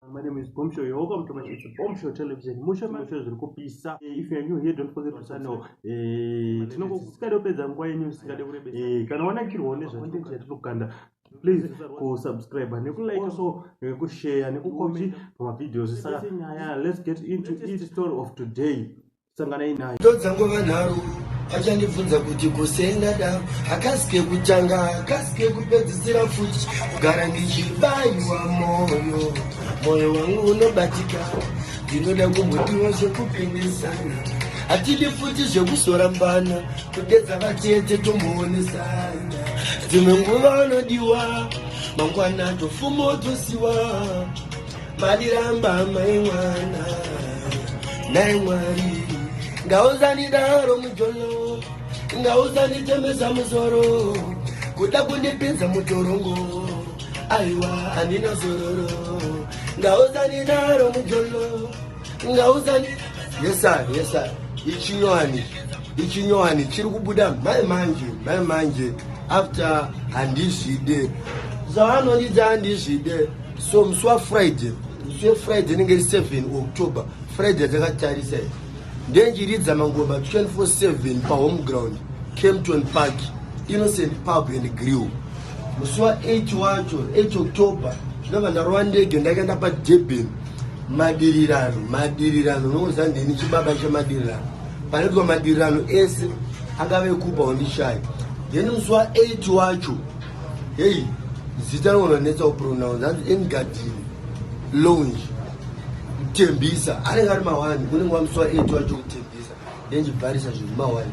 My name is Bombshell. You're welcome to my it's Bombshell Television. Mushe mushe zviri kupisa. Eh, if you are new here, don't forget to sign up. Eh, tinongo kusikade kupedza nguva yenyu sikade kurebesa. Eh, kana wanakirwa nezva content yatinokanda please kusubscribe nekulike also nekushare nekucomment pamavideos saka nyaya let's get into each story of today sanganai naye ndodzangova nharo achandibvunza kuti kusenda da akasike kutanga akasike kupedzisira futi kugara ndichibaiwa moyo moyo wangu unobatika ndinoda kumbotiwa zvekupindisana hatidi futi zvekuzorambana kudedza vatete tomboonesana dzimwe nguva anodiwa mangwana tofumo tosiwa Madiramba mai mwana nai mwari ngauzanidaro mujolo ngauzanitemesa musoro kuda kundipinza mutorongo aiwa handina zororo ngauzanidaro mujolo ngauzani yesa yesa ichinyowani ichinyowani chiri kubuda mai manje mai manje after handizvide zvavanondidza handizvide so musi wafriday musi wefriday inenge iri 7 october friday atakatarisa i ndenjiridza mangoba 247 pahome ground campton park innocent pub and grill musi wa8 wacho 8 october ndinobva ndarova ndege ndakaenda padurban madirirano madirirano unokuziva ndini chibaba chemadirirano panoitwa madirirano ese akave kupa wandishaya then musi wa8 wacho Hey, zita rona netsa upronounce hanzi engadini lounge kutembisa anenge ari mawani kunenge wamuswa etu wacho kutembisa then chibharisa zvinhu mawani